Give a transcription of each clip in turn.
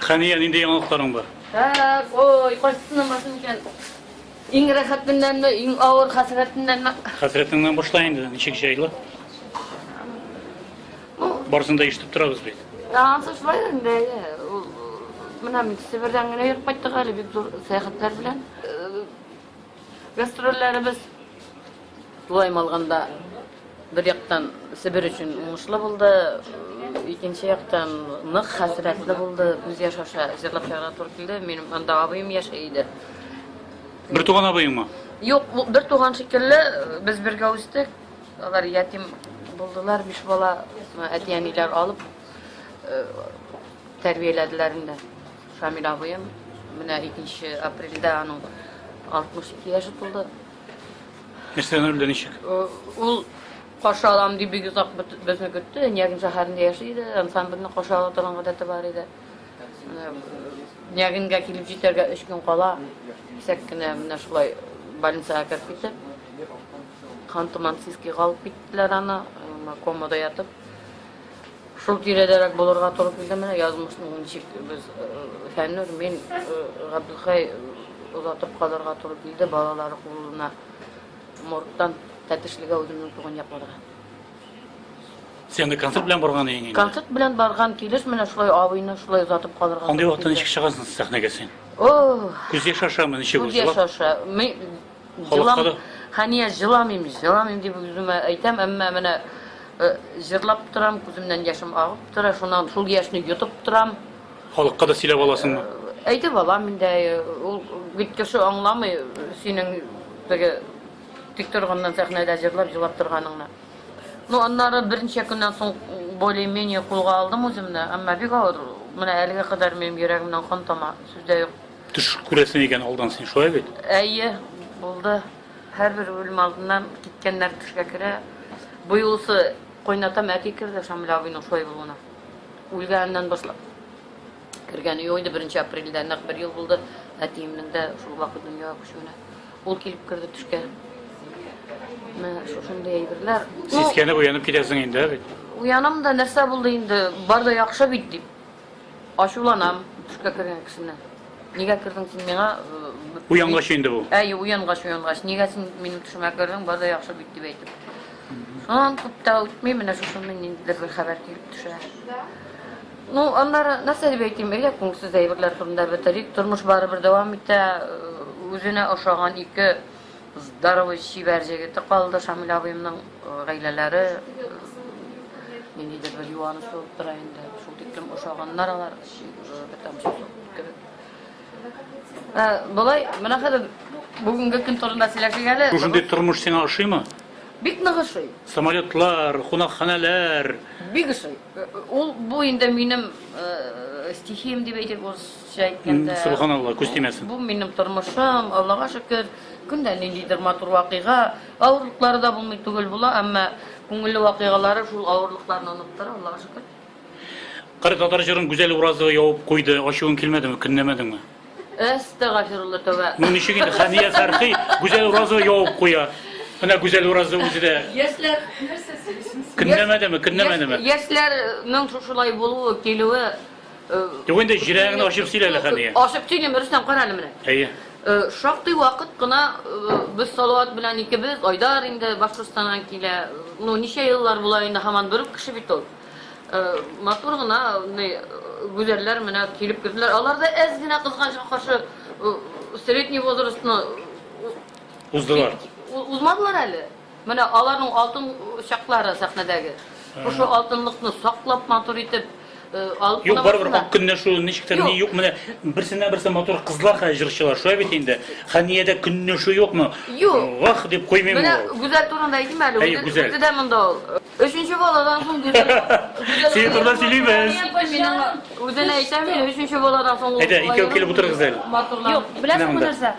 Хәния, нинди яңалыкларың бар? Хәп, ой, кайсысына машин икән. Иң рәхәтеннәнме, иң авыр хәсрәтеннәнме? Хәсрәтеңнән башла инде, ничек җайлы? Барысын да ишетеп торабыз бит. Ансы шулай инде. Менә мин Себердән генә йөреп кайттык әле бик зур сәяхәтләр белән. Гастрольләребез, тулаем алганда, бер яктан Себер өчен уңышлы булды, икенче яктан нык хәсрәтле булды, күз яшь аша җырлап чыгарга туры килде. Минем анда абыем яши иде. Бер туган абыеңмы? Юк, бер туган шикелле без бергә үстек. Алар ятим булдылар, биш бала, әти-әниләр алып тәрбияләделәр инде. Шамил абыем, менә 2 апрельдә аның 62 яше тулды. Нәрсә гомер белән ничек? Ул каршы алам дип бик озак безне көтте. Нягин шәһәрендә яши иде, ансамбльне каршы ала торган гадәте бар иде. Нягингә килеп җитәргә 3 көн кала, кисәк кенә менә шулай больницага кереп китеп, хан туман сискига алып киттеләр аны, комада ятып. Шул тирәдәрәк булырга туры килде менә язмышның ничек без Фәннүр, мин Габдулхай озатып калырга туры килде, балалары кулына моргтан Тәтешлегә үземнең туган якларга. Син анда концерт белән барган идең инде. Концерт белән барган килеш менә шулай абыйны шулай озатып калырга. Андый вакытта ничек чыгасың сәхнәгә син? Күз яшь ашамы ничек узды? Күз яшь аша. Халыкка да. Хәния җыламыйм, җыламыйм дип үземә әйтәм, әмма менә э, җырлап торам, күземнән яшем агып тора, шуннан шул яшьне йотып торам. Халыкка да сөйләп аласыңмы? Э, әйтеп алам инде, э, ул бит кеше аңламый синең теге тик торганнан сәхнәдә җырлап, җылап торганыңны. Ну, аннары берничә көннән соң более-менее кулга алдым үземне, әмма бик авыр. Менә әлегә кадәр минем йөрәгемнән кан тама, сүз дә юк. Төш күрәсең икән алдан син, шулай бит? Әйе, булды. Һәрбер үлем алдыннан киткәннәр төшкә керә. Бу юлысы кайнатам әти керде Шамил абыйның шулай булуына. Үлгәннән башлап кергәне юк инде, беренче апрельдә нәкъ бер ел булды әтиемнең дә шул вакыт дөньяга күчүенә. Ул килеп керде төшкә. Менә шушындый әйберләр. Ну, Сискәнеп уянып китәсең инде, ә бит? уянам да нәрсә булды инде, бар да яхшы бит дип. Ачуланам төшкә кергән кешене. Нигә кердең син миңа? Уянгач инде бу. Әйе, уянгач, уянгач. Нигә син минем төшемә кердең? Бар да яхшы бит дип әйтеп. Аннан күп тә үтми, менә шушында ниндидер бер хәбәр килеп төшә. Ну, аннары нәрсә дип әйтим, элек күңелсез әйберләр турында бетерик. Тормыш барыбер дәвам итә. Үзенә ошаган ике Здоровый чибәр җегете калды Шамил абыемның гаиләләре ниндидер бер юаныч булып тора инде. Шул тиклем ошаганнар алар, бер тамчы кебек. Болай, менә хәзер бүгенге көн турында сөйләшик әле. Шушындый тормыш сиңа ошыймы? Бик нык ошый. Самолетлар, кунакханәләр. Бик ошый. Ул бу инде минем стихиям дип әйтик, Кеше әйткәндә, Субханалла, күз тимәсен. Бу минем тормышым, Аллага шөкер, көн дә ниндидер матур вакыйга, авырлыклары да булмый түгел була, әмма күңелле вакыйгалары шул авырлыкларны оныттыра, Аллага шөкер. Кыры татар җырын Гүзәл Уразова ябып куйды, ачуың килмәдеме, көнләмәдеңме? Әстәгафирулла, тәүбә. Ну ничек инде, Хәния Фәрхи Гүзәл Уразова ябып куя. Менә Гүзәл Уразова үзе дә. Яшьләр, нәрсә сөйлисең син? Көнләмәдеме, көнләмәдеме? Яшьләрнең шушылай булуы, килүе, Юк инде җирәгеңне ачып сөйлә әле хәния. Ачып сөйлим, Рөстәм кара әле менә. Әйе. Э, шактый вакыт кына э, без Салават белән икебез, Айдар инде Башкортстаннан килә. Ну, ничә еллар була инде һаман бер үк кеше бит ул. Э, матур гына гүзәлләр менә килеп керделәр. Алар да әз генә кызганычка каршы средний возрастны уздылар. Узмадылар әле. Менә аларның алтын чаклары сәхнәдәге. Шушы алтынлыкны саклап матур итеп алып Юк, барыбер кунамасыннар. ак көнләшү ничектер ни Юк. юк менә берсеннән берсе матур кызлар хәзер җырчылар шулай бит инде. Хәниядә көнләшү юкмы? Юк. Вах дип куймыймы Менә ул? Гүзәл турында әйтим әле, Әйе, үзе Гүзәл. үзе дә монда ул. Өченче баладан соң Гүзәл Гүзәл Синең турыда сөйлибез. Әйтмим мин аңа. Үзенә әйтәм мин, өченче баладан соң ул Әйдә, икәү килеп утырыгыз әле. Матурланып Юк, беләсеңме Менә монда. нәрсә?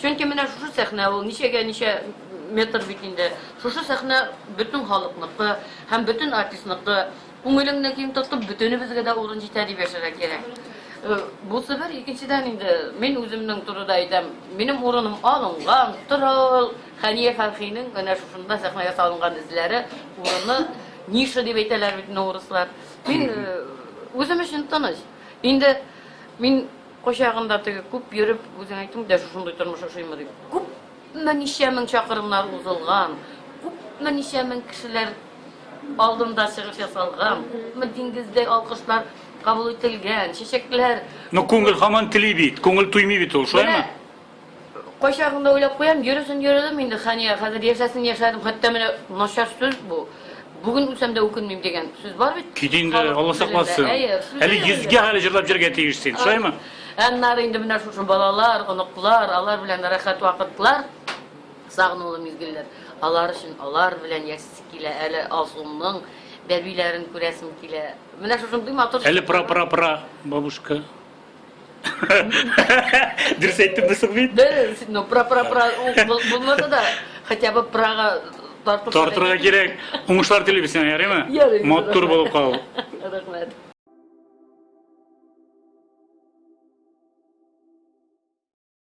Чөнки менә шушы сәхнә ул, ничәгә ничә метр бит инде. Шушы сәхнә бөтен халыкныкы һәм бөтен артистныкы. Күңелеңне киң тотып, бөтенебезгә дә урын җитә дип яшәргә кирәк. Бусы бер, икенчедән инде, мин үземнең турыда әйтәм, минем урыным алынган, тора ул. Хәния Фәрхинең менә шушында сәхнәгә салынган эзләре, урыны, ниша дип әйтәләр бит менә урыслар. Мин үзем өчен тыныч. Инде мин Кайчагында теге күп йөреп, үзең әйттең дә, шушындый тормыш ошыймы дип. Күпме ничә мең чакрымнар узылган, күпме ничә мең кешеләр алдында чыгыш ясалган, күпме диңгездәй алкышлар кабул ителгән, чәчәкләр. Ну, күңел һаман тели бит, күңел туймый бит ул, шулаймы? Кайчагыңда уйлап куям, йөресен йөрдем инде, Хәния, хәзер яшәсен яшәдем, хәтта менә начар сүз бу. Бүген үлсәм дә үкенмим дигән сүз бар бит. Кит инде, Алла сакласын. Әле йөзгә хәле җырлап җөргә тиеш син, шулаймы? Аннары инде менә шушы балалар, оныклар, алар белән рәхәт вакытлар, сагынулы мизгелләр. Алар өчен, алар белән яшисе килә, әле Алсуның бәбиләрен күрәсем килә. Менә шушындый матур. Әле пра-пра-пра бабушка. Дөрес әйттем дә соң бит. Ну, про про про булмаса да, хотя бы прага тартып. Тартырга кирәк. Уңышлар телибез сиңа, ярыймы? Матур булып кал. Рәхмәт.